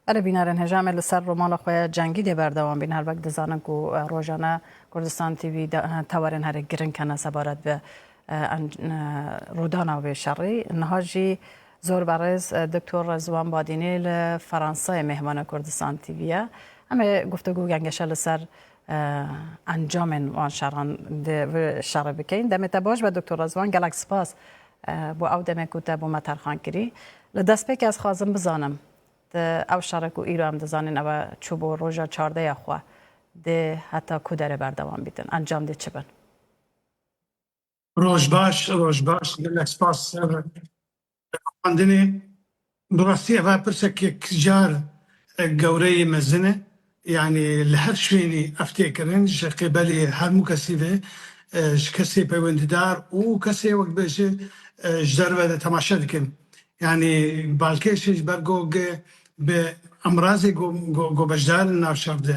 Erê bînarên heja me li ser romana xwe ya Cengî dê berdewam bîn. Her wek dizanin ku rojane Kurdistan TV tewarên herî giring hene sebaret bi rûdana wê şerî. Niha jî zor berêz Doktor Rezwan Badînî li Feransayê mêhmana Kurdistan TV ye. Em ê guftego gengeşe li ser encamên wan şeran dê vê şerê bikin. Demê te baş be Doktor Rezwan. Gelek spas Bo ew demê ku te bo me terxan kirî. Li destpêkê ez xwazim bizanim tu ew şere ku îro em dizanîn ew e çû bo roja çardeh ya xwe dê heta ku derê berdewam bîtin encam dê çi bin? Roj baş, roj baş, gelek spas ser xwendinê. Bi rastî ev a pirsekek car gewreyê mezin e. Yanî li her şwênî ev tê kirin ji qê belê her mû kesî ve ji kesê peywendîdar û kesê wek bêje ji derve de temaşe dikin. Yanî balkêşê ji ber ku bi emrazê ku beşdar in navçev de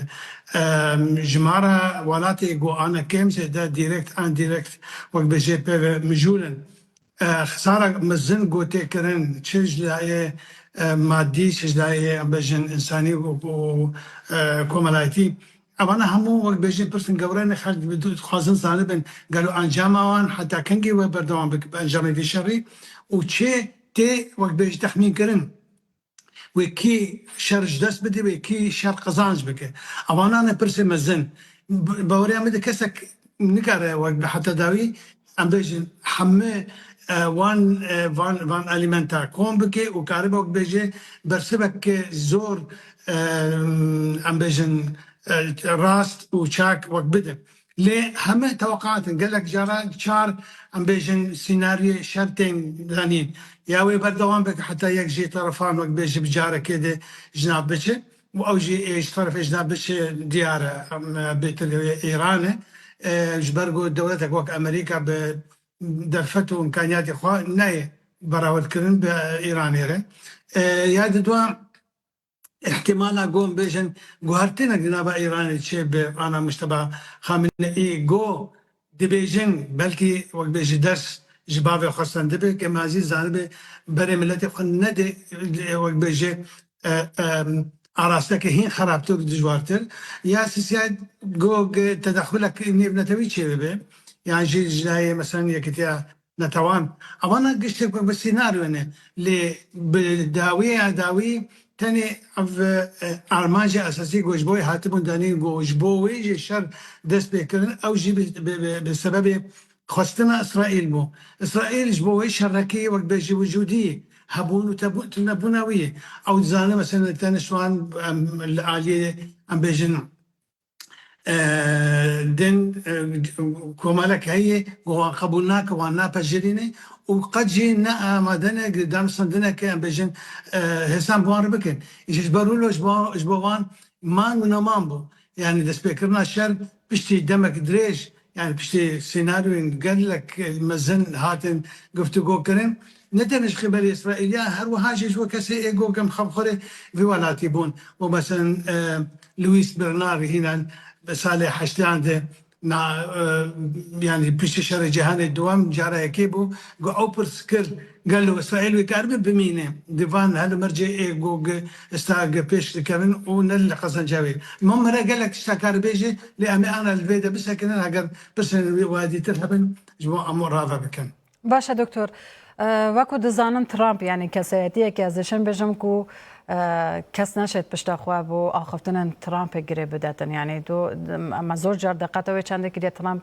ji ma re welatê ku ane kêm zêde direkt, indirekt wek bêje pê ve mijûl in. Xizara mezin gotê kirin çi ji dayê madî çi ji dayê bejin însanî û komelayîtî. Evana hemû wek bejin pirsên gewre ne xelk dixwazin zanibin gelo encama wan heta kengî wê berdewam bibe encamê vî şerî û çê tê wek bêjin texmîn kirin. wê kî şer ji dest bidî wê kî şer qezanc bike. Avana ne pirsê mezin. Bi bawerîya min de kesek nikare wek bi heta dawî em bêjin heme wan van van elîmenta kom bike û karibe wek bêje bersivek zor em bêjin rast û çak wek bide. Lê heme teweqat in. Gelek caran çar em bêjin sînaryê şer tên danîn. Ya wê berdewam be ku heta yek jî terefan wek bê ji bi carekê dê ji nav biçe û ew jî ê ji terefê ji nav biçe diyar e. Em bêtir li wê Îran e. Ji ber ku dewletek wek Amerîka bi derfet û îmkaniyatê xwe nayê berawetkirin bi Îranê re. Ya di dua. îhtîmala ku hûn bêjin guhertinek di nava Îranê çê bi ana Mujteba Xameneî ku dibêjin belkî wek bê ji ders ji bavê xwe sendibe ke me ezî zanibê berê miletê xwe nedê wek bê jê arasteke hîn xerabtir û dijwartir ya sîsiyayê ku tedexulek nêvnetewî çê bibe yan jî ji lawê mesela Yekîtiya Netewan, ava na giştê ku bi sînaryo ne, lê bi dawiyê ya dawî tenê ev armancê esasî ku ji bo wê hatibûn danîn ku ji bo wê jî şer dest pê kirin ew jî bi sebebê xwestina Îsraîl bû. Îsraîl ji bo wê şerekî wek bê ji wicûdî hebûn û tunebûna wî ye. Ew dizane mesela tenê şivan em li aliyê em bêjin din komelek heye ku wan qebûl nake, wan napejirîne û qet jî ne amade ne ku danûstandine ke em bêjin hêsan bi wan re bikin. Îşê ji ber rûlo ji bo ji bo wan man û neman bû. Yanî destpêkirina şer piştî demek dirêj Yanî piştî sînaryoyên gelek mezin hatin guftûgokirin. Ne tenê ji qîbelê Îsraîlî ya her wiha jî ji bo kesê êgo germ xebixwerê vê welatî bûn û meselin Luis Bernard hîna di salê heştyan de na yanî piştî şerê cîhanê dûem cara yekê bû ku ew pirs kir, Gelo Îsraîl wê karibe bimîne di van helemircê ê gog stag pêş dikevin û ne li qezenca wê? Mam Mira gelek tişta karibe jî lê em ê ana li vê de bisekinin heger pirsên wiha dîtir hebin ji bo em rave bikin. Baş e doktor. Wek ku dizanin Trump yanî kesayetiyek e ez dişim bijim ku kes neşêt pişta xwe bo axiftinên Trumpê girê bidetin. Yanî tu me zor car diqete wê çendê kiriye Trump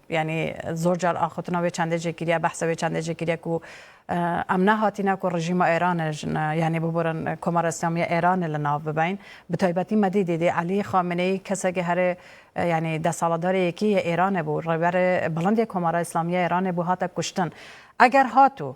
Yanî zor car axutina wê çandê jî kiriye, behsa wê çandê jî kiriye ku em nehatîne ku rejîma Êranê yanî biborin Komara Îslamî ya Êranê li nav bibein. Bi taybetî me dîtî dê Elî Xameneyî kesekî herê yanî destaladarê yekî yê Êranê bû, rêberê bilind yê Komara Îslamî ya Êranê bû hate kuştin. Eger hat û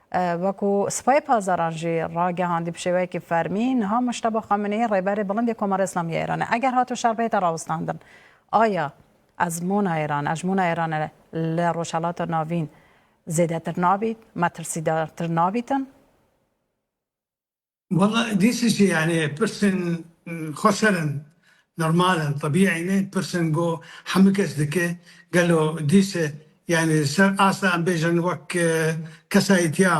Wekû Sipayê Pazaran jî ragihandî bi şêweyekî fermî, niha Mojteba Xameneî rêberê bilind ê Komara Îslamî ya Îranê eger hato şerbehêta rawestandin aya ezmûna Îranê, hejmûna Îranê li Rojhilata Navîn zêdetir nabît, metirsîdartir nabîtin. Walla this is yanî pirsên xwe ser in, normal in, tebîî ne, pirsên ku hemû kes dike, gelo dîse yanî li ser asta em bêjin wek kesayîtiya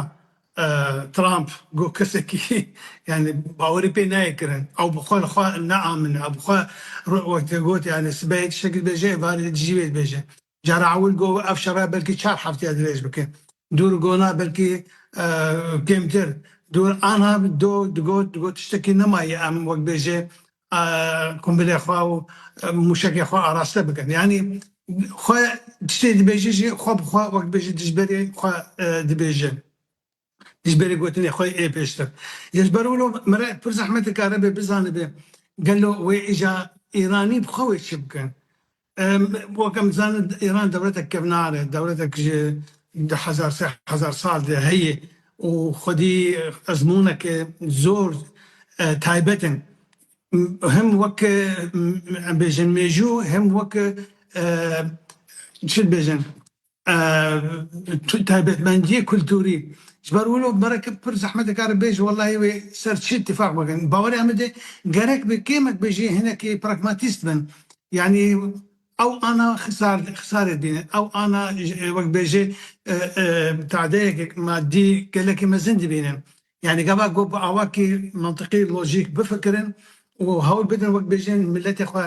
Trump ku kesekî yanî bawerî pê nayê kirin, ew bi xwe li xwe naamine, ew bi xwe wek te got yanî sibehê tiştekî dibêje êvarê jî wê dibêje. Cara ewil got ev şere belkî çar hefteya dirêj bike. Dûr gona belkî kêmtir. Dûr ana do digot digot tiştekî nemayê em wek bêjê qumbilê xwe û mûşekê xwe araste bikin. Yanî xwe tiştê dibêje jî xwe bi xwe wek bêjê dijberê xwe dibêje. ji berî gotinê xwe ê pêştir. Ji ber wilo min re pir zehmet dikaribe bizanibe gelo wê îja Îranî bi xwe wê çi bike. Wek em dizanin Îran dewletek kevnar e, dewletek ji du hezar sê hezar sal de heye û xwedî ezmûnek e zor taybet in. Hem wek em bêjin mêjû hem wek çi dibêjin taybetmendiyê kulturî. Ji ber wilo merek pir zehmet dikare bêje wellahî wê ser çi îtîfaq bikin. Bawerê em bide gerek bi kêmek be jî hinekî pragmatîst bin. Yanî ew ana xisar xisarê dînin. Ew ana wek bêje tadeyek madî gelekî mezin dibînin. Yanî gava ku bi awakî mintiqî, lojîk bifikirin û hewl bidin wek bêjin miletê xwe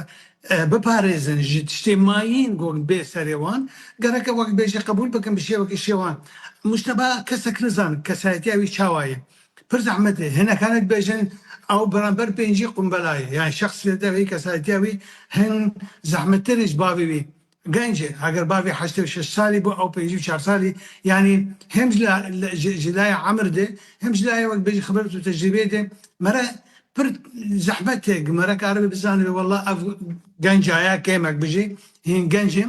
biparêzin ji tiştê mayîn ku bê serê wan, gereke wek bêjî qebûl bikin bi şêwekî şêwan. Mûşteba kesek nizan kesayetiya wî çawa ye. Pir zehmet e hinekane dibêjin ew beramber pêncî qumbela ye. Yanî şexsiyete wî, kesayetiya wî hin zehmettir e ji bavê wî. Gencê eger bavê heştê û şeş salî bo ew pêncî û çar salî yanî hem ji laya emir de hem ji laya wek bêjî xibret û tecrîbeyê de mere pir zehmet e ku mere karibe bizanibe wela ev genca ya kêmek bijî hîn genc e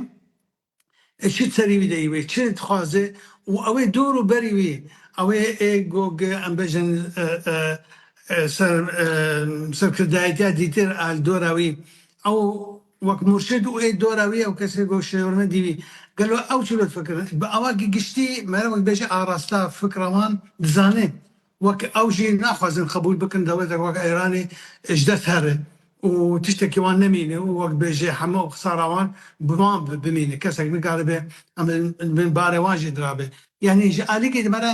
ê çi serî wî de yî wê çi dixwaze û ew ê dor û berî wî ew ê ê gog em bêjin serkirdayîtiya dîtir a li dora wî ew Wek murşid û ê dora wî ew kesê ku Şêwirmendî wî gelo ew çi lutfekir? Bi awakî giştî mere wek bêje arasta fikra wan dizane wek ew jî naxwazin qebûl bikin dewletek wek Îranê ji dest here û tiştekî wan nemîne û wek bêje heme ew qisara wan bi wan bimîne kesek nikaribe em li bin barê wan jî dirabe yanî ji alikê di mere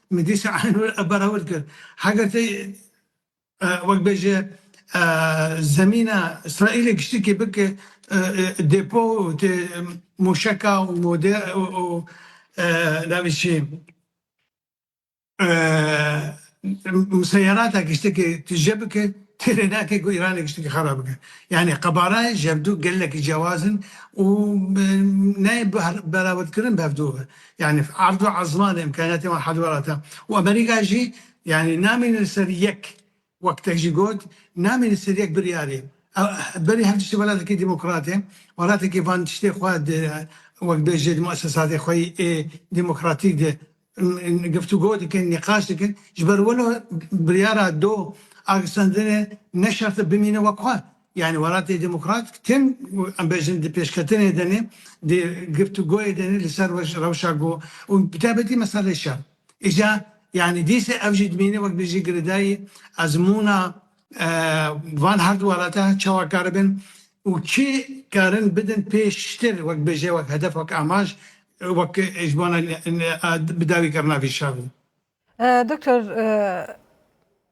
Min dîsa Aynur Eber ewil kir. Heger te wek bê ji zemîna Îsraîlê giştikê bike dêpo û tê mûşeka û mode û navê çi museyerata giştikê tije bike têrê nake ku Îranê giştikê xera bike. Yanî qebarayê ji hevdu gelekî cewaz in û nayê berawirdkirin bi hevdu ve. Yanî erd û ezmanê îmkanîyetên wan hel welat e û Amerîka jî yanî namîne li ser yek wek te jî got namîne li ser yek biryarê. Berî her tiştî welatekî demokrat e, welatekî van tiştê xwe di wek bêjê di muesesatê xwe yê demokratîk de giftûgo dikin, nîqaş dikin. Ji ber wilo biryara do agirstendinê ne şert e bimîne wek xwe. Yanî Welatê Demokratîk tim û em bêjin di pêşketinê de ne, di giftûgoyê de ne li ser rewşa ku û bi taybetî meseleyê şer. Îja yanî dîsê ev jî dimîne wek bijî girêdayî ezmûna van her du welata çawa karibin û çi karin bidin pêştir wek bêje wek hedef wek amaj wek ji bona bi dawî kirina vî şerî. Doktor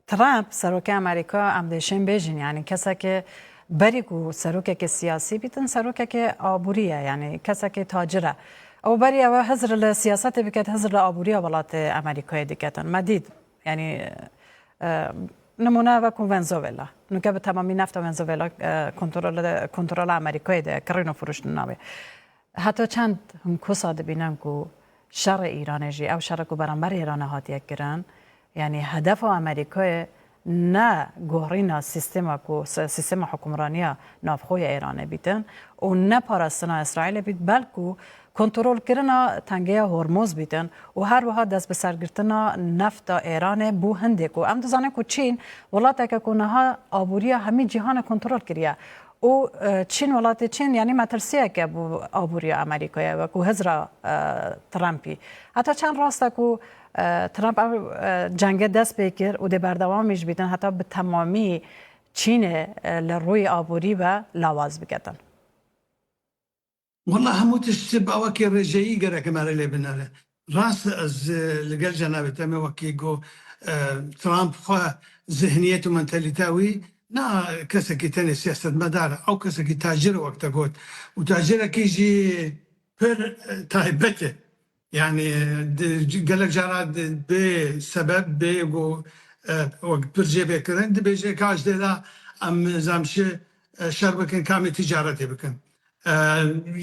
Trump serokê Amerîka em dê şên bêjin yanî kesekê berî ku serokekê siyasî bîtin serokekê aborî ye yanî kesekê tacir e. Ew berî ew e hizr li siyasetê biket hizr li aborîya welatê Amerîkayê diketin. Me dît yanî nimûne ev e ku Wenzuwela nûke bi temamî nefta Wenzuwela kontrola Amerîkayê de ye kirîn û firûştin nabê. Heta çend hûn kosa dibînin ku şerê Îranê jî, ew şere ku beramber Îranê hatiye kirin, yanî hedefa Amerîkayê ne gorîna sîstema ku sîstema hukmraniya navxwe ya Îranê bîtin û ne parastina Îsraîlê bît belku kontrolkirina tengeya Hormûz bîtin û her wiha dest bi sergirtina nefta Îranê bo hindê ku em dizanin ku Çîn welateke ku niha aboriya hemî cîhanê kontrol kiriye Û Çîn welatê Çîn yanî metirsiyek e bo aboriya Amerîkayê wekû hizra Trumpî. Heta çend rast e ku Trump ev cenge dest pê kir û dê berdewamî jî bîtin heta bi temamî Çînê li rûyê aborî ve lawaz biketin. Wela hemû tişt ji bo wekî rêjeyî gerek e me re lê binêre. Rast e ez li gel cenabê te me wekî got Trump xwe zihniyet û mentalîteya wî ne kesekî tenê siyasetmedar e ew kesekî tacir e wek te got û tacirekî jî pir taybet e. Yanî gelek cara bê sebeb bê ku wek pir jê bê kirin dibêje ka ji dêda em nizam çi şer bikin kamê tîcaretê bikin.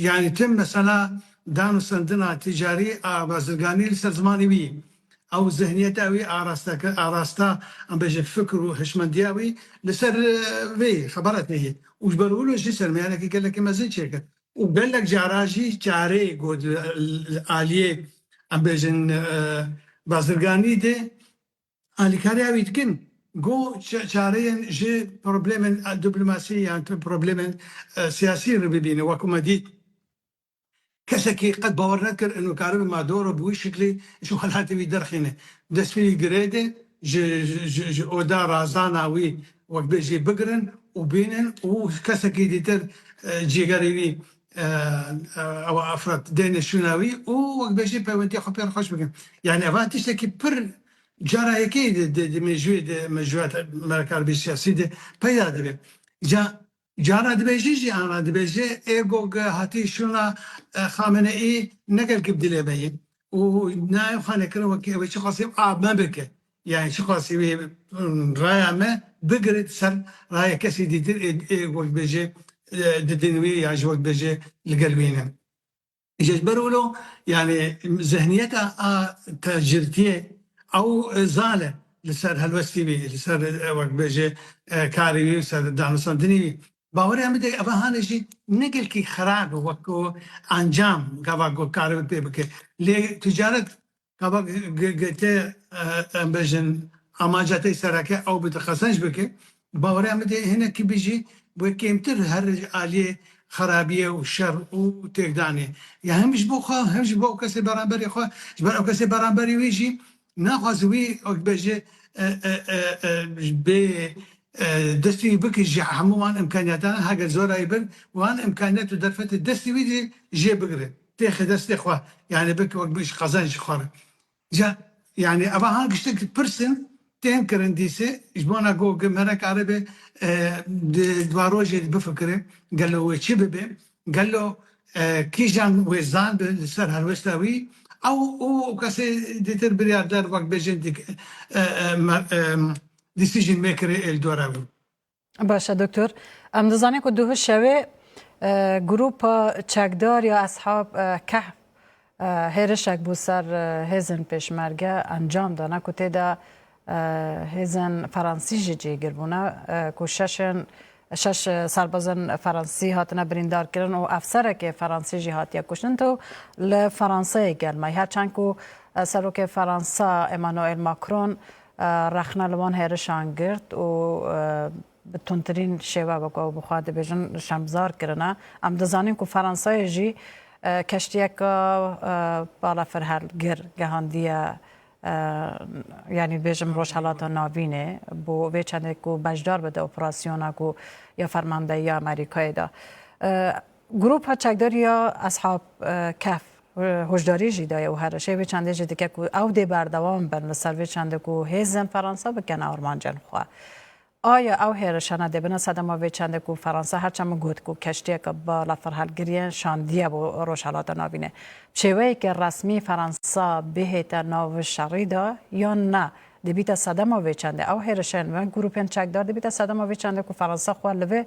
Yanî tim mesela dan û sendina tîcarî a bazirganî li ser zimanê wî ye. Ew zihniyeta wî arastekir arasta em bêjin fikir û hişmendiya wî li ser vê xebaret neyê û ji ber wilo jî sermiyanekî gelekî mezin çêkir. û gelek caran jî çarê ku di aliyê em bêjin bazirganî de alîkariya wî dikin ku çareyên ji problemên diplomasî yan problemên siyasî re bibîne wek ku me dît kesekî qet bawer nedikir ino karibe Maduro bi wî şiklî ji welatê wî derxîne destpêlî girêde ji oda razana wî Wek bê jê bigirin û bînin û kesekî dîtir cîgerê wî ew efrat deynê şûna wî û wek bê jê peywendîya xwe pê re xweş bikin. Yanî eva tiştekî pir cara yekê yê di mêjûyê di mêjûya me re karbê siyasî de peyda dibe. Ca Cana dibêjî jîana dibêje ê gog hatî şûna Xameneî ne gelkî bi dilê me yê û ne ew xane kir wekî ew ê çiqasî a me bike yanî çiqasî wê raya me bigire di ser raya kesî dîtir ê gog dibêje di din wî yan ji we dibêje li gel wî ne. Ji ber wilo yanî zihniyeta a tacirtiyê ew zal e li ser helwestî bî, li ser wek bêje karî bî, li ser danûstandinî bî. Baweriyan bide ev hanê jî ne gelkî xerab e wek ku encam gava ku karibe pê bike. Lê ticaret Gava girtî em bijin amaca te sereke ew bi te qezenc bike, bawerê em bidê hinekî bi jî wê kêmtir her aliyê xerabiyê û şer û têkdanê ya hem ji bo xwe hem ji bo ew kesê beramberê xwe ji ber ew kesê beramberê wî jî naxwaze wî wek bejê bê destê wî bike ji hemû wan imkaniyatan heger zora wî bin wan imkaniyet û derfetê destê wî jê bigire. Têxi destê xwe yanî bike wek bigîş qezen ji xwe re. Ca yanî eva han giştek pirs in tên kirin dîsê ji bona ku gimerek erebê di dwa rojê de bifikire gelo wê çi bibe, gelo kîjan wê zandibe li ser helwesta wî ew û kesê dîtir biryarder wek bêjin decision maker ê li dora wî. Baş e Doktor. Em dizanin ku duhu şewê grûpa çekdar ya Eshab Kehf hêrişek bû ser hêzên pêşmerge encam dana ku tê de hêzên Feransî jî cihgir bûne ku şeşên şeş serbazên Feransî hatine birîndar kirin û efserekê Feransî jî hatiye kuştin to li Feranseyê gelmay her çend ku Serokê Feransa Emmanuel Macron rexne li van hêrişan girt û bi tundtirîn şêwe wek ew bi xwe dibêjin şemzar kirine. Em dizanîn ku Feransayê jî keştiyeke balafirhelgir gehandiye yanî bêjim Rojhilata Navînê bo vê çendê ku beşdar bide operasyona ku ya fermandeyiya Amerîkayê da. Grûpa çekdar ya Eshab Kehf hoşdarî jî daye û herişê vê çandê jî dike ku ew dê berdewam bin li ser vê çandê ku hêzên Feransa bikin armancên xwe. Aya ew hêrişana dê bina sedema vê çandê ku Feransa her çemû got ku keştiyeke bala firhilgiriyên şandiye bo Rojhilata Navînê. Bi şêweyeke resmî Feransa bihête nav vê şerî de yan ne dibîte sedema vê çandê. Ew hêrişên vê grûpên çekdar dibîte sedema vê çandê ku Feransa xwe li vê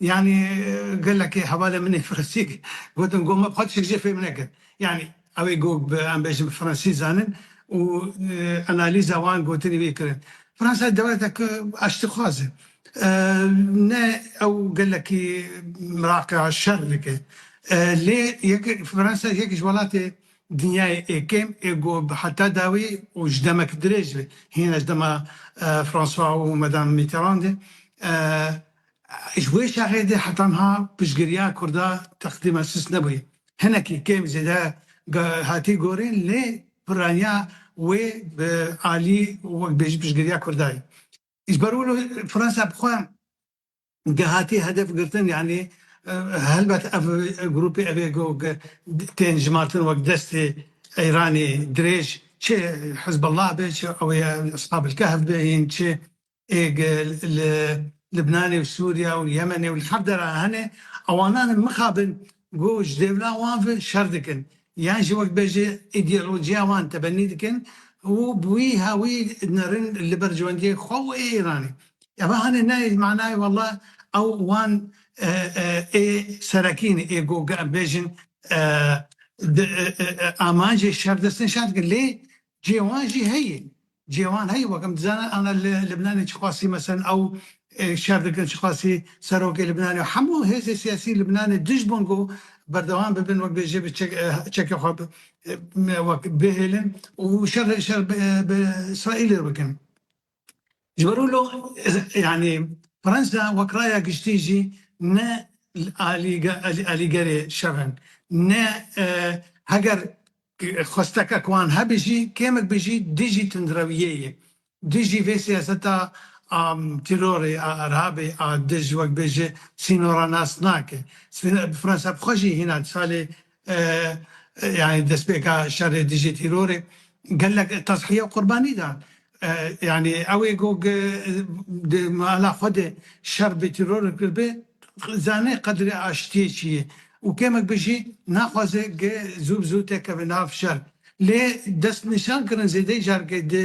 Yanî gelekê hevalên min ê fransî kir. Gotin got me bi xwe tişt jê fêm nekir. Yanî ew ê got bi em bêjin bi fransî zanin û analîza wan gotinî wî kirin. Fransa dewletek aştîxwaz e. Ne ew gelekî Iraqê şer dike. Lê yek Fransa yek ji welatê dinyayê ê kêm ê got bi heta dawî û ji demek dirêj ve hîna ji dema François û Madame Mitterrand e Ji wê şerê de heta niha piştgiriya Kurda teqdîma sist nebûye. Hinekî kêm zêde hatiye gorîn lê pirraniya wê bi alî wek bêjî piştgiriya Kurda ye. Ji ber wilo Fransa bi xwe de hatiye hedef girtin yanî helbet ev grûpê ev ê gog tên jimartin wek destê Îranê dirêj çi Hizbullah be çi ew ê Eshabil Kehf be yên çi li Libnanê û Sûriya û Yemenê û li hev dera hene ewanan in mixabin ku ji dêvla wan ve şer dikin yan jî wek bê ji îdeolojiya wan tebenî dikin û bi wî hawî nerin li ber ciwendiyê xwe û ê Îranê. Ev hene ne ê li manayê wela ew wan ê serekî ne ê ku em bêjin di amanjê şer destnîşan dikin lê Cêwan jî heye, cêwan heye wek em dizanin ana li Libnanê çiqasî meselen ew şer dikin çiqasî serokê Libnanê û hemû hêzê siyasî Libnanê dij bin ku berdewam bibin wek bêje bi çekê xwe wek bihêlin û şer bi Îsraîlê re bikin. Ji ber wilo yanî Fransa wek raya giştî jî ne alîgerê şer in. Ne heger xwestekek wan hebe jî kêmek be jî dijî tundrewiyê ye. Dijî vê siyaseta a tîrorê a erhabê a dij wek bê ji sînoranas nake. Fransa bi xwe jî hîna di salê yanî destpêka şerê dijî tîrorê gelek tezhiye û qurbanî dan. Yanî ew ê ku di mala xwe de şer bi tîror kiribe dizane qedrê aştiyê çi ye û kêmek be jî naxwaze ku zû bi zû tekeve nav şer. Lê destnîşan kirin zêdeyî careke di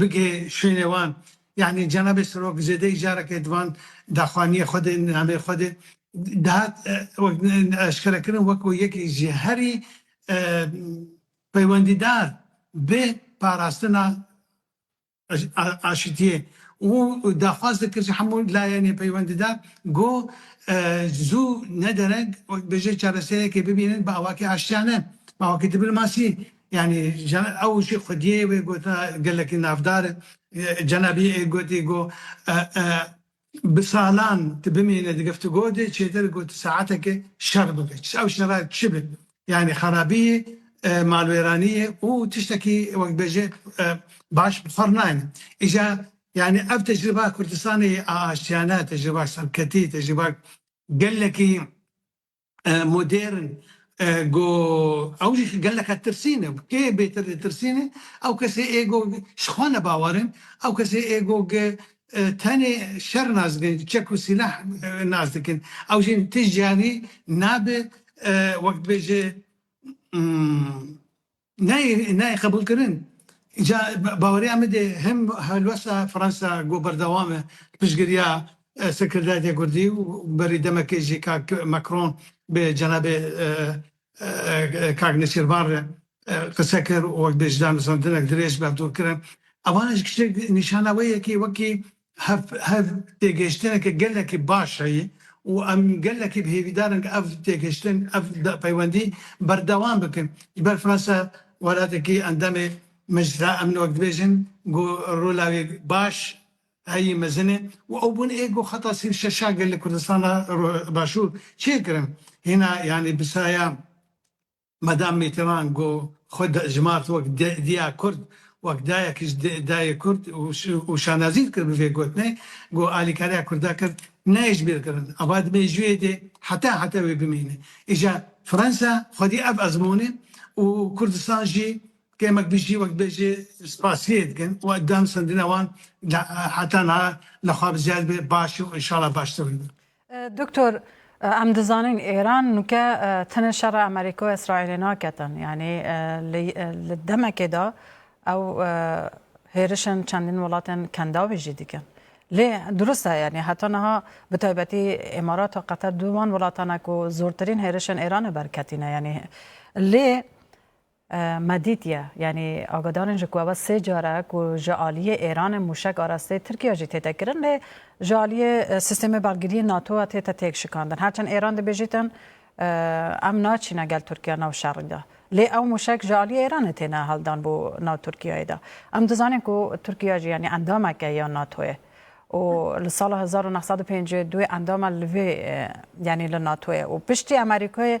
bigê şwênê wan. Yanî cenabê Sirok zêdeyî careke di van daxwaniyê xwe de, nameyê xwe de dihat eşkerekirin wek ku yekî ji herî peywendîdar bi parastina aşitiyê û daxwaz dikir ji hemû layenên peywendîdar ku zû ne dereng bêje çareseriyekê bibînin bi awakî aştiyane, bi awakî dîplmasî. Yanî ew jî xwediyê wê gota gelekî navdar e. Cenabî yê gotî go bi salan tu bimîne di geftugo de çêtir ku tu saetekê şer bike. Çi ew şera çi be? Yanî xerabî ye, malwêranî ye û tiştekî wek dibêje baş bi xwe re nayêne. Îja yanî ev tecrîba Kurdistanê yê aştiyane, tecrîba serketî, tecrîba gelekî modern go ew jî geleke tirsîn e. Kê bêtir li tirsîn e? Ew kesê ê go ji xwe ne bawer in, ew kesê ê go ke tenê şer nas dikin, çek û sîleh nas dikin. Ew jî tij carî nabe wek dibêje Nayê nayê qebûlkirin. Îca baweriya min dê him helwesta Fransa ku berdewam e piştgiriya Sekreteriyetê Kurdî û berî demekê jî kak Macron bi cenabê kak Nêçîrvan re qise kir û wek bêjî da nûsandinek dirêj bi hev dûr kirin. Evaneş kişek nîşana wê yekê wekî Hev hev têgihiştineke gelekî baş heye û em gelekî bi hêvîdar in ku ev têgihiştin, ev peywendî berdewam bikin. Ji ber Fransa welatekî endamê Meclisa Emnê wek dibêjin ku rola wê baş heye, mezin e û ew bûn ê ku xeta sî û şeş a gelê Kurdistana Başûr çêkirin. Hîna yanî bi saya. Madam Mîtîran got, Xwe dijmart wek diya Kurd, wek dayek ji dayê Kurd û şanazî dikir bi vê gotinê, got, Alîkariya Kurda kir, ne ji bîr kirin, ava dibe ji wê dê heta heta wê bimîne. Îja Fransa xwedî ev ezmûne û Kurdistan jî kêmek bijî wek dibê jê spasiyê dikin û danûstandina wan heta niha li xwe bi ziyad be baş û înşala baştir bibe. Doktor em dizanin Îran nûke tenê şera Amerîka û Îsraîlê naketin yanî li demekê de ew hêrişên çendîn welatên kendawî jî dikin. Lê dirust e yanî heta niha bi taybetî Îmarat û Qeter du wan welatan e ku zortirîn hêrişên Îranê berketîne yanî lê Me dîtiye yanî agadarên ji ku ev sê car e ku ji aliyê Êranê mûşek arasteyê Tirkiye jî tête kirin lê ji aliyê sîstemê balgiriyê NATO a tête têkşikandin. Her çend Êran dibêjî tin em naçîne gel Tirkiye nav şerî de lê ew mûşek ji aliyê Êranê têne hildan bo nav Tirkiyeyê de. Em dizanîn ku Tirkiye jî yanî endamek e ya NATOyê û li sala hezar û neh sed û pêncî û du endam e li vê yanî li NATOyê û piştî Amerîkayê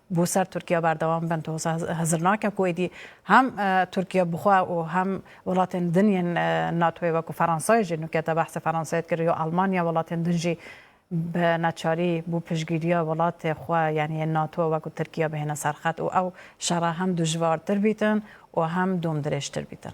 bo ser Tirkiye berdewam bin doza hezir nake ku êdî hem Tirkiye bi xwe û hem welatên din yên NATOyê wek ku Feransayê jî nûke te behsê Feransayê dikir yo Elmanya welatên din jî bi neçarî bo piştgîriya welatê xwe yanî yên NATO wek ku Tirkiye bihêne ser xet û ew şera hem dijwartir bîtin û hem dom dirêjtir bîtin.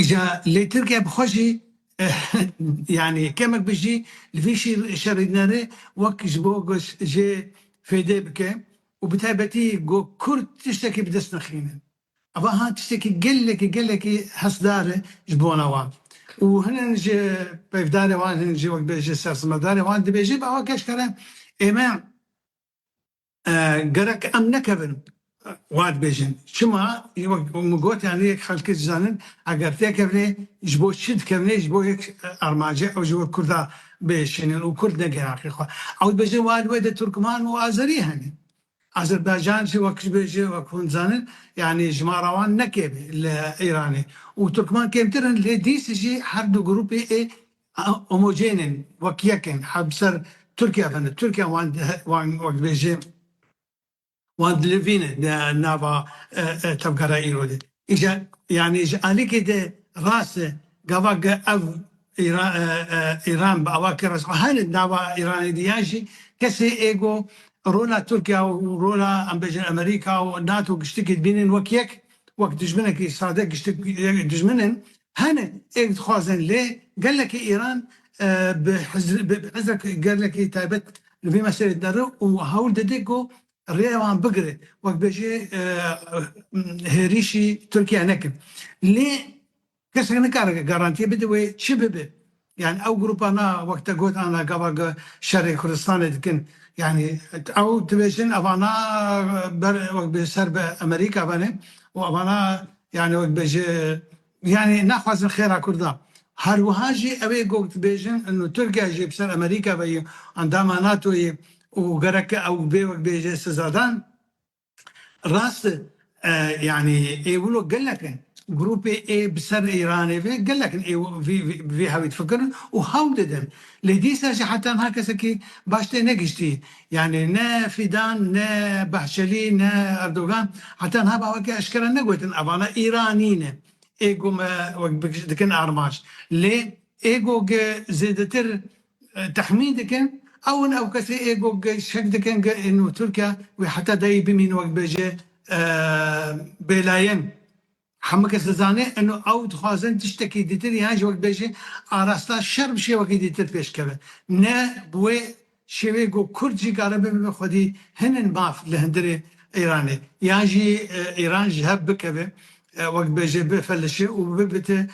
Îca lê Tirkiye bi xwe jî yanî kemek bijî li vî şerîdnerê wek ji bo jê fêdê bike û bi taybetî go Kurd tiştekî bi dest nexîne. Eva ha tiştekî gelekî gelekî hesdar e ji bona wan û hinek ji peyvdarê wan hinek jî wek bê ji sersimedarê wan dibêjin eva keşkere ême Gerek em nekevin wa dibêjin. Çima? Wek min got yanî yek xelkê dizanin eger têkevnê ji bo çi dikevnê ji bo yek armancê ew ji we Kurda bihişînin û Kurd nege haqê xwe. Ew dibêjin wa li wê de Turkman û Azerî hene. Azerbaycan jî wek ji bê jî wek hûn dizanin yanî jimara wan ne kêm e li Îranê û Turkman kêmtir in lê dîs jî her du grûpê ê Homogênên, wek yek in, her bi ser Tirkiye ve ne. Tirkiye wan wan wek dibêje wan dilivîne di nava tevgera îro de. Îje yanî ji alîkê de rast e gava ge ev îra îran bi ava ke rast hene nava îranê de yan jî kesê ê go rola Tirkiye û rola em bêjin Amerîka û nato giştikî dibînin wek yek wek dijminekî sade giştik dijmin in Hene êk dixwazin lê gelekî Îran bi hizek gelekî taybet li vî meselê de re û hewl dide ku rêya wan bigire wek bêje hêrîşî Tirkiye nekin. Lê kesek nikare garantîye bide wê çi bibe. Yanî ew grûpa na wek te got ana gava ge şerê Kurdistanê dikin. Yanî ew dibêjin evana ber wek bi ser bi Emerîka venê û evana yanî wek bê ji yanî naxwazin xêra Kurdan. Her wiha jî ew ê gog dibêjin ino Tirkiye jî bi ser Emerîka ve ye, endama NATO'yê û gerek e ew bê wek bê jê sizadan. Rast e yanî ê wilo gelek in. Grûpê ê bi ser Îranê ve gelek in ê vê hewî difikirin û hewl didin. Lê dîsa jî heta niha kesekî baş tê negihiştî. Yanî ne Fîdan, ne Bahçelî, ne Erdogan heta niha bi weke eşkere negotin evana Îranî ne. Ê ku me wek dikin armanc. Lê ê ku zêdetir Texmîn dikin ew in ew kesê ê ku şek dikin ku ê nû Tirk e wê heta dayî bimîn wek bêje bêlayan. Hemû kes dizane in û ew dixwazin tiştekî dîtir yan jî wek bêje arasta şer bi şêwekî dîtir pêş keve. Ne bi wê şêweyê ku Kurd jî kare bibe xwedî hin in maf li hundirê Îranê yan jî Îran ji hev bikeve Wek bêje bifelişe û bibite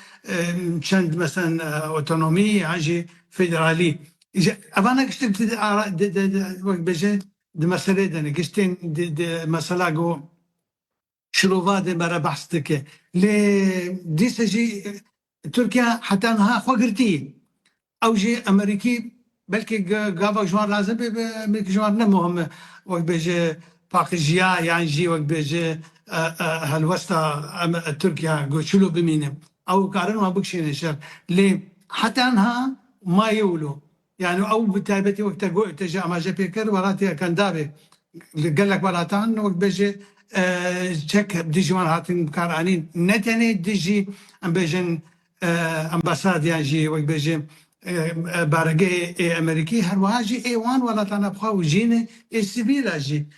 çend mesen otonomî yan jî federalî. Îja eva ne giştin tu di ara di di di wek bêje di meselê de ne. Giştên di di mesela go şirova de me re behs dike. Lê dîsa jî Tirkiye heta niha xwe girtî. Ew jî Amerîkî belkî gava ji wan razê bê bi Amerîkî ji wan ne muhim e. Wek bêje paqijiya yan jî wek bêje helwesta em Tirkiye goçûlo bimîne. Ew karin wan bikişîne şer. Lê heta niha ma yê wilo. Yanî ew bi taybetî wek te got te jî amaje pê kir welatî Ekandavê li gelek welatan wek bêje çek dijî wan hatin bikaranîn ne tenê dijî em bêjin embasad yan jî wek bêje baregehê ê Emerîkî herwiha jî ê wan welatan a bi xwe wijîne ê sivîl a jî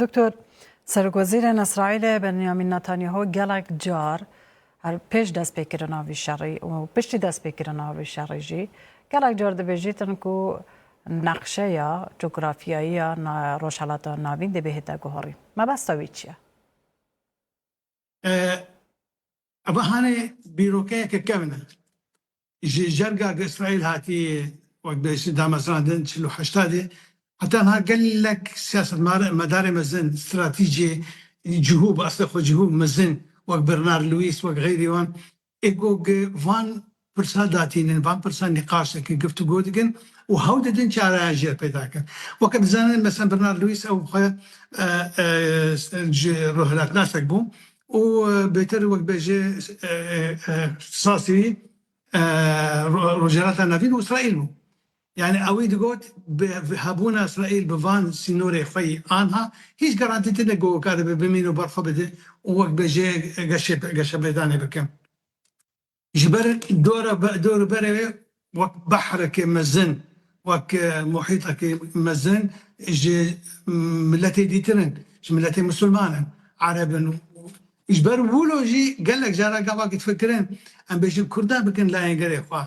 Doktor, Serokwezîrê Îsraîlê Benyamîn Netanyahu gelek car her pêş destpêkirina vî şerî û piştî destpêkirina vî şerî jî gelek car dibêjîtin ku neqşeya cografyayî ya Rojhilata Navîn dê bihête guherîn. Mebesta wî çi ye? Ev hane bîrokeyeke kevn e. Ji jerga ku Îsraîl hatiye wek bi hêsî damezrandin çil û heşta dê heta niha gelek siyasetmedarê mezin, stratîcê cihû bi eslê xwe cihû mezin wek Bernard Lewis wek xeyrî wan Ê gog van pirsa datînin, van pirsa nîqaş dikin, giftugo dikin û hewl didin çareyan jê re peyda bikin. Weke dizanin mesela Bernard Lewis ew xwe ji rûhhilatnasek bû û bêtir wek be ji îxtîsasî wî Rojhilata Navîn û Îsraîl bû. Yanî ewî digot bi hebûna Îsraîl bi van sînorê xwe yî anha hîç garantî tine ku karibe bimîn û berxwe bide û wek bêjeyek geşepêdanê bikin. Ji ber dorûberê wê wek behrekê mezin, wek muhîtekî mezin ji miletê dîtir in, ji miletê misilman in, ereb in û ji ber wilo jî gelek caran gavakî difikirin em bêjin kurdan bikin layengirê xwe.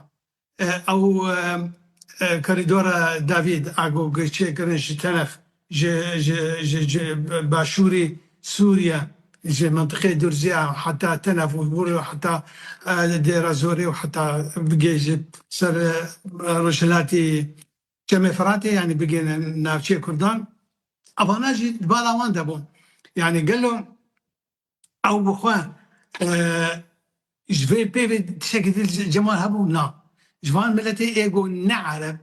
Ew korîdora Davîd a ku çêkirin ji Telef ji başûrê Sûriye ji mintiqê Durzî a heta Telef û hûr heta Dêra Zorê û heta bigê ji ser rojhilatê Çemê Firatê yanî bigihîne navçeyê Kurdan, evana jî di bala wan de bûn. Yanî gelo Ew bi xwe ji vê pêvê tişekî dil cemal hebû na. Ji van miletê êgo ne ereb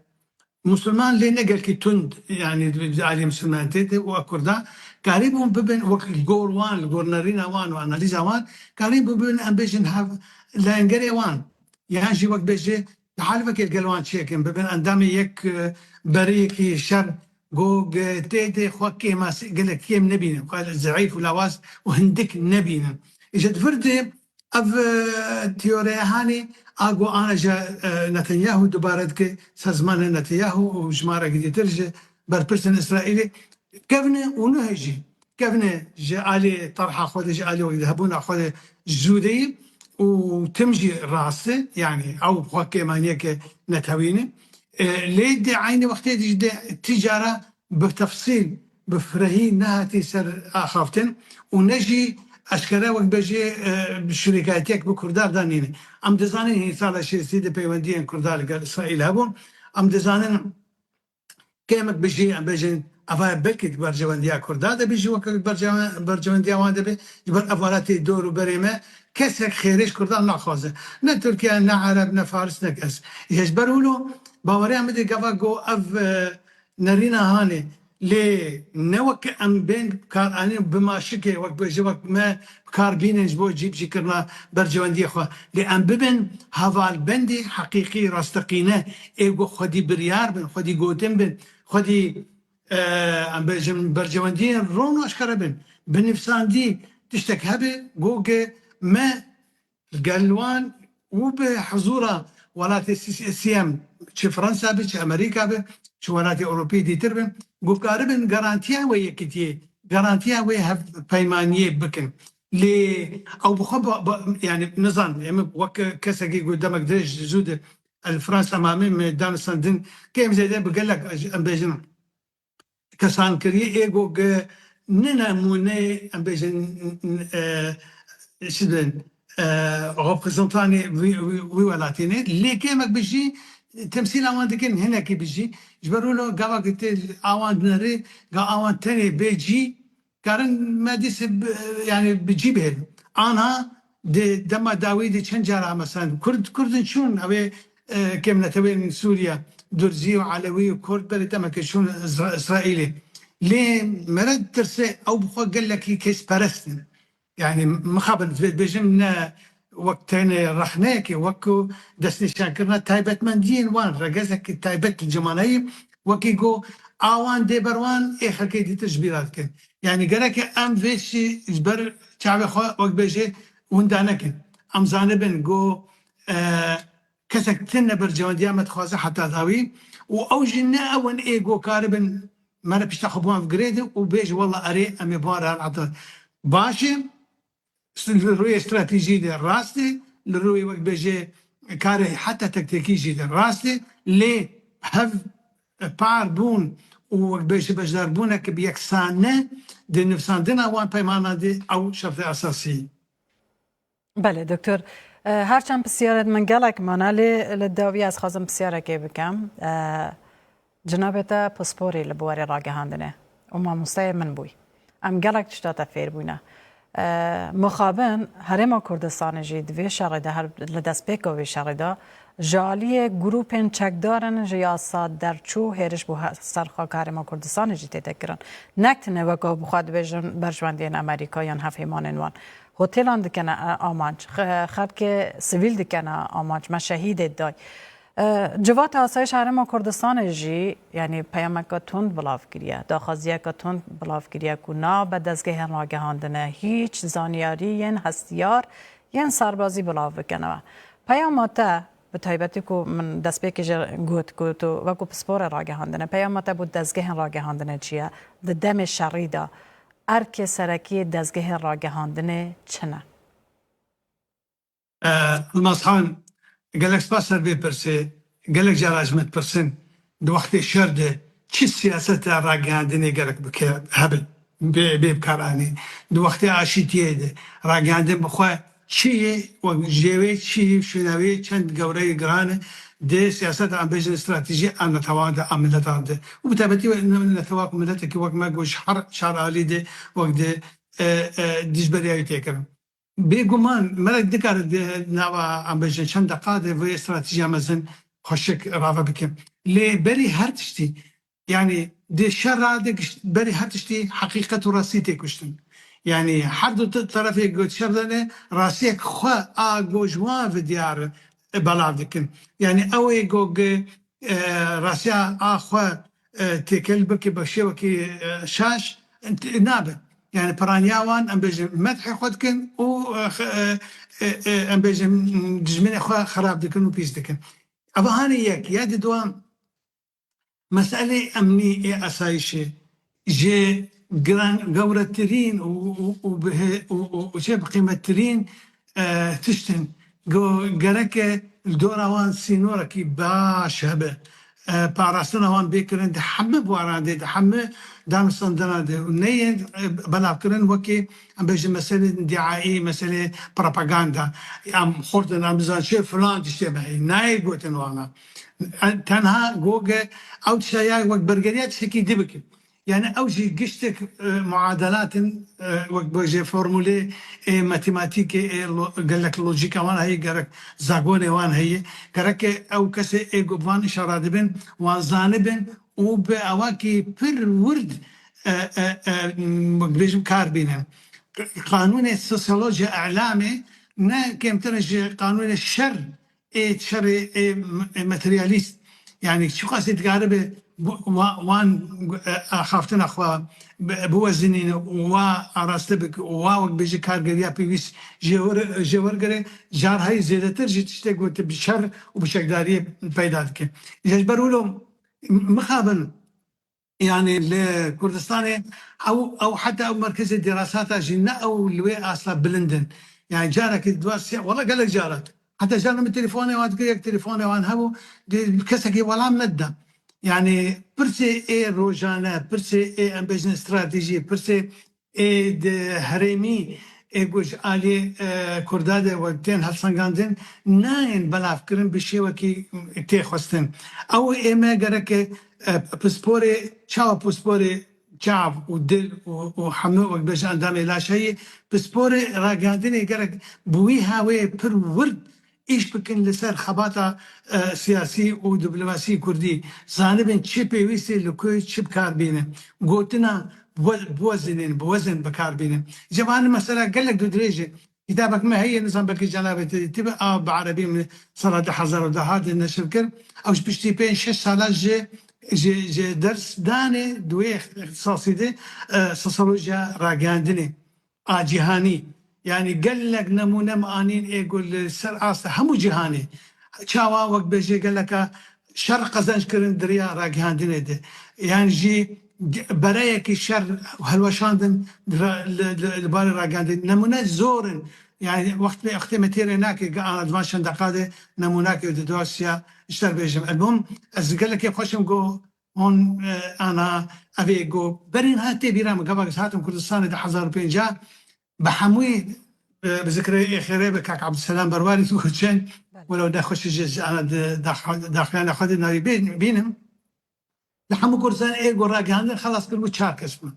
Musulman lê ne gelkî tund yanî aliyê Musulman tê de û Kurda karîbûn bibin wek li gor wan li gor nerîna wan û analîza wan karîbûn bibin em bêjin hev layengerê wan yan jî wek bêje Di halvekê gelo an çêkin bibin endamê yek beriyekî şer ku tê de xwe kêma gelek kêm nebînin, xwe zehîf û lawaz û hindik nebînin. Îşe di vir de ev tîyoreya hanê a ku ana ji Netanyahu dubare dike, sazmana Netanyahu û ji ma re girîtir ji berpirsên Îsraîlê kevne û nuhe jî Kevne ji aliyê terha xwe de, ji aliyê wek de, hebûna xwe de zûdeyî û tim jî rast e. Yanî ew bi xwe kêm aniyeke netewîn e. Lê di eynî wextê de jî de ti cara bi tefsîl, bi firehî nehatî ser axaftin û ne jî eşkere wek bejê şurêkayîtiyek bi Kurdan de nîne. Em dizanin hîn sala şêstî de peywendiyên Kurdan li gel Îsraîl hebûn. Em dizanin kêmek bijî em bêjin eva ye belkî di berjewendiya Kurda de bî jî weke ku berjewendiya wan de bê ji ber ev welatê dor û berê me kesek xêrê ji Kurdan naxwaze ne Tirkiye ne Ereb ne Faris ne kes yê ji ber wilo baweriya min dê gava ku ev nerîna hanê lê ne weke em bên bikaranîn û bima şikê wek bêje wek me Bi kar bînin ji bo cîbicîkirina berjewendiyê xwe. Lê em bibin hevalbendî heqîqî, rasteqîne, ê ku xwedî biryar bin, xwedî gotin bin, xwedî em bêjin berjewendiyên ron û aşkere bin. Bi nivîsandî tiştek hebe ku me Li gel wan û bi hizûra welatê CSCM çi Fransa be, çi Amerîka be, çi welatê Ewropî dîtir be, guhdaribin garantiya wê yekitiyê, garantiya wê hevpeymaniyê bikin. Lê ew bi xwe yanî nizan, em ê wek kesekî ku demek dirêj zû di li Fransa mamê me danûstandin, kêm zêde bi gelek em bêjin kesankirî ê go ke nine mûnê em bêjin çi dibin reprezantanê wî welatî ne lê kêmek bijî temsîla wan dikin hinekî bijî ji ber wilo gavakê tê awan dineri ga awan tenê bê cî Karin me dîs yanî bi cî bê. Anha di dema dawî de çend car a mesela kurd kurd in çûn ew ê kêmnetewên Sûriye Durzî û Elewî û Kurd berê demekê çûn Îsraîlê. Lê mere tirsê ew bi xwe gelekî kêsperest in. Yanî mixabin bêjim ne wek tenê rexneyekê wek ku destnîşankirina taybetmendiyên wan regezekî taybet li cimanayî wekî ku a wan dê ber wan ê xelkê dîtir ji bîr re dikin. Yanî gereke em vê jî ji ber çavê xwe wek bêjê winda nekin. Em zanibin ku Kesek têne berjewendiya me dixwaze heta dawî û ew jî ne ew in ê ku karibin mere pişta xwe bi wan girêd û bêj wela erê em ê bi wan re herin heta baş e. Li rûyê stratejî de rast e, li rûyê wek bêje karê heta tektekî jî de rast e lê hev par bûn û wek bêje beşdarbûnek bi yeksan ne di nivîsandina wan peymanan de ew şertê esasî ye. Belê doktor her çend pisyarê di min gelek mane lê li dawî ez xwazim pisyarekê bikim. Cinabê te pisporê li bi warê ragihandinê û mamosteyê min bûyî. Em gelek tişta te fêr bûne. Mixabin Herêma Kurdistanê jî di vê şerê de her li destpêka vê şerê de ji aliyê grûpên çekdarin ji yasa derçû hêriş bo ser xaka Herêma Kurdistanê jî tê te kirin. Nekdine weka bi xwe dibêjin berjwendiyên Amerîka yan hevhêmanên wan. Hotelan dikene amanc, xelkê sivîl dikene amanc, me şehîdê day. Civata Asayîşa Herêma Kurdistanê jî yanî peyameke tund bilav kiriye, daxwaziyeke tund bilav kiriye ku nabe dezgehên ragihandinê hîç zanyariyên hestiyar yên serbazî bilav bikin. Peyama te Bi taybetî ku min destpêkê jî got ku tu wekû pisporê ragihandinê, peyama te bo dezgehên ragihandinê çi ye? Di demê şerî de erkê serekî yê dezgehê ragihandinê çi ne? Yilmazxan, Gelek spas ser vê pirsê. Gelek caran ji min dipirsin Di wextê şer de çi siyaseta ragihandinê gelek bi kêr hebin bê bê bi kar anî. Di wextê aşîtiyê de ragihandin bi xwe çi yê û jê wê çi yê û şênawiyê çend gewre yê giran e di siyaseta em bêjin stratejî a netewan de a miletan de û bi taybetî netewa ku miletekî wek me ku ji her çar alî de wek di dijberîyayî tê kirin. Bêguman merek dikare di nava em bêjin çend deqa de vê stratîjiya mezin xweşik rave bike. Lê berî her tiştî yanî di şera de gişt berî her tiştî heqîqet û rastî tê kuştin. Yanî her du terefê ku şer dene rastiyek xwe a ku ji wan ve diyar e belav dikin. Yanî ew ê ku rastiya a xwe Têkel bi ki bi şêwekî şaş nabe. Yanî piraniya wan em bêjin medhê xwe dikin û em bêjin dijminê xwe xerab dikin û pîs dikin. Ev hanê yek. Ya di duwa meselê emnî ê esayîşê ji giran gewretirîn û û û bi û û çê bi qîmettirîn Tiştên ku gereke li dora wan sînorekî baş hebe, parastina wan bê kirin di heme buaran de, di heme danûstandina de û neyên belavkirin wekî em bêjin meselên diaî, meselên propaganda. Em xurtin, em dizanin çi filan tiştê me heye. Nayê gotin wana. Tenha gog e ew tişta ya wek bergeriya tiştekî di bikin. Yanî ew jî giştek muadelat in wek bêje formûlê ê matematîkê ê gelek lojîka wan heye gerek zagonê wan heye gerek e ew kesê ê ku bi van îşa re dibin wan zanibin û bi awakî pir wurd wek dibêjim kar bînin. Qanûnê sosyolojya îlamê ne kêmtir ji qanûnê şer Ê çerê ê materyalîst yanî çiqasî dikaribe wan axaftina xwe biwezinîne û wa araste bike û wa wegbêje kargeriya pêwîst jê wergire, carhayî zêdetir jî tiştê ku tu bi şer û bi çekdariyê peyda dike. Îja ji ber wilo mixabin Yanî li Kurdistanê ew ew heta ew merkezê dîrasata jî ne ew li wê asta bilind in. Yanî carekî duwa sê wela gelek caran heta caran min telefone wan dikir yek telefone wan hebû dê kesekî welam nedida. Yanî pirsê ê rojane, pirsê ê em bêjin stratejî, pirsê Ê di herêmî ê ku ji aliyê Kurda de we tên hevsengandin nayên belavkirin bi şêwekî tê xwestin. Ew ê me gerek e pisporê çawa pisporê çav û dil û hemû wek bêje endamê laşeyê pisporê ragihandinê gerek bi wî haweyê pir wird Îş bikin li ser xebata siyasî û diplomasî kurdî. Zanibin çi pêwîstî li ku çi bi kar bîne. Gotina biwezinîn, bi wezin bi kar bîne. Ceba ni mesela gelek dûdirêj e. Kitabek me heye nizam belkî cenabê te dîtibe a bi erebî min sala du hezar û duh hatî neşir kir. Ew ji piştî pênc şeş salan ji ji ders danê di wê îxtisasî de sosyolojiya rageyandinê a cîhanî yanî gelek nemûne min anîn ê ku li ser asta hemû cîhanê çawa wek bêje geleka şer qezenc kirin di rêya ragihandinê de yan jî bereyekî şer û hilweşandin li barê ragihandinê nemûne zor in yanî wextê me têrê nake ka ana di van şendeqa de nemûnake di dosya ji te bêjim. Elmûm ez gelekê xweş im ku Hon ana ev ê ku berê niha tê bîra min gavak ez hatim Kurdistanê di hezar û pêncah bi hemûyî bi zikirê êxirê bi kak Abdulselam Berwarî tu çend welew nexweş ji ana di daxuyana xwe de navî bînim li hemû Kurdistanê ê ku ragihandin xelas kiribû çar kes bûn.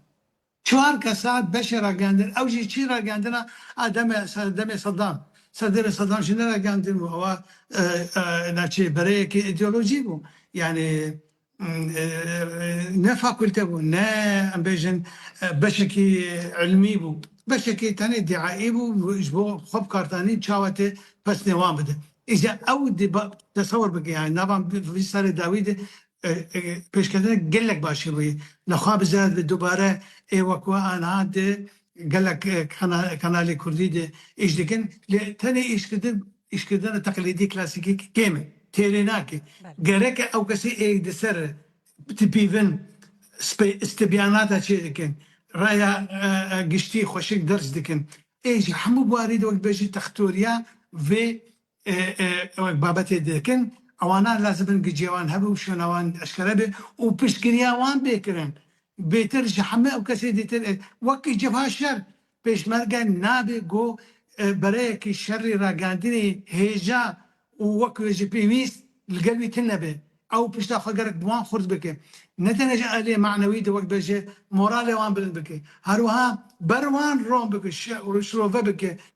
Çar kesa beşê ragihandin. Ew jî çî ragihandina a demê demê Saddam. Serdêrê Saddam jî neragihandin û ewa navçeyê bereyekî îdeolojî bû. Yanî ne fakulte bû, ne em bêjin beşekî îlmî bû. Beşekî tenê dîaî bû ji bo xwe bikardanîn çawetê pesnê wan bidin. Îja ew dê tesewir bike yanî nava vî serê dawî de pêşketineke gelek başî bûye. Li xwe bize di dubare ê wekû anha de gelek kanalê kurdî de îş dikin lê tenê îşkirdin îşkirdina teqlîdî klasîkî kêm e, têrê nake. Gerek e ew kesî ê di ser tipîvin îstibyanata çê dikin, raya giştî xweşik derc dikin. Ê ji hemû bûarî de wek dibêjî textoriya vê Wek babetê dikin, ewa ne lazim in gicê wan hebe û şona wan eşkere be û piştgiriya wan bê kirin. Bêtir ji heme ew kesê dîtir e. Wekî cebha şer, pêşmerge nabê ku bereyekî şerî ragihandinê hêja û wek wê ji pêwîst li gel wî tune be. Ew pişta xwe gelek bi wan xurt bike. Ne tenê ji aliyê manewî de wek be jê moralê wan bilind bike. Herwiha ber wan ron bike, şirove bike.